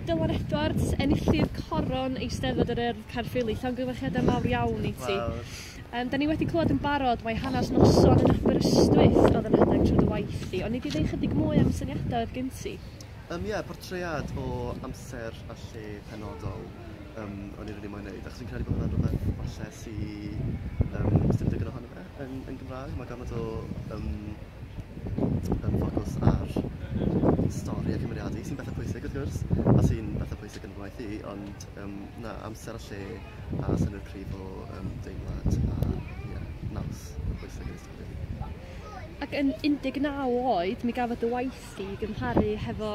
Dylan Edwards enillydd coron Eisteddfod yr Urdd Caerffili llongyfarchiadau mawr iawn i ti. Wel. Yym 'dan ni wedi clywed yn barod mai hanas noson yn Aberystwyth oedd yn rhedeg trwy dy waith di oni di ddeu chydig mwy am syniadau oedd gin ti? Yym ie portread o amser a lle penodol yym o'n i rili moyn neud achos fi'n credu bod hwnna'n rwbeth falle sy yym sdim digon ohono fe Yn, yn Gymraeg, mae gormod o um, um, ffocws ar stori a cymeriadu sy'n bethau pwysig wrth gwrs, a sy'n bethau pwysig yn fy ngwaith i, ond um, na, amser a lle a synnwyr cryf o um, deimlad a yeah, naws yn bwysig yn y stori. Ac yn 19 oed, mi gafodd dy waith i gymharu hefo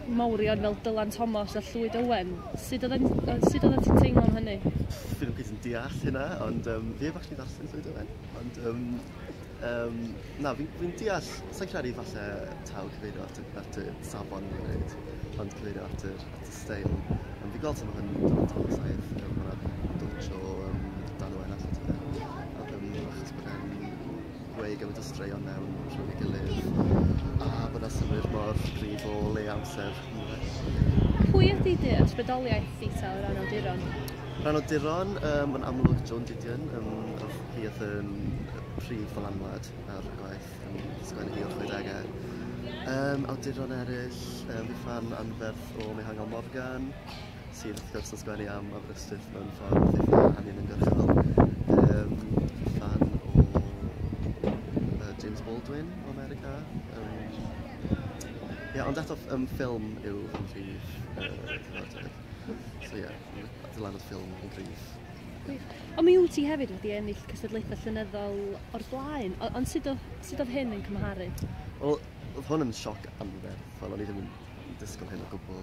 mawrion fel Dylan Thomas a Llwyd Owen. Sut oedd e'n yy sut oeddet ti'n teimlo am hynny? Dwi ddim cweit yn deall hynna ond yym fi heb actually ddarllen Llwyd Owen ond yym yym na fi'n fi'n deall sai'n credu falle taw cyfeirio at y at y safon fi'n credu ond cyfeirio at yr at y steil ond fi'n gweld sut ma' hwn yn Dylan Thomas a ef yym ma' 'na dwtsh o yym Dan Owen arno ti 'fyd. Yym achos bod e'n gweud gymaint o straeon mewn rhywun ei gilydd a bod yna synnwyr mor gryf o le amser yn Pwy ydy dy ysbrydoliaeth di ta o ran awduron? Rhan o duron, um, yn amlwg John Didion, um, oedd hi oedd yn prif ddylanwad ar y gwaith yn sgwennu hi o'r 60au. Um, awduron eraill, um, fi fan anferth o Mihangel Morgan, sydd wrth gwrs yn sgwennu am Aberystwyth mewn ffordd eitha anuniongyrchol. Um, fan o uh, James Baldwin o America. Um, yeah, ond eto um, ffilm yw fy mhrif uh, cyfarfodydd. So ie, yeah, dylanwad ffilm yn gryf. Ond mi wyt ti hefyd wedi ennill cystadlaethau llynyddol o'r blaen, ond sut oedd hyn yn cymharu? Wel, oedd hwn yn sioc anferth, fel o'n i ddim yn disgwyl hyn o gwbl.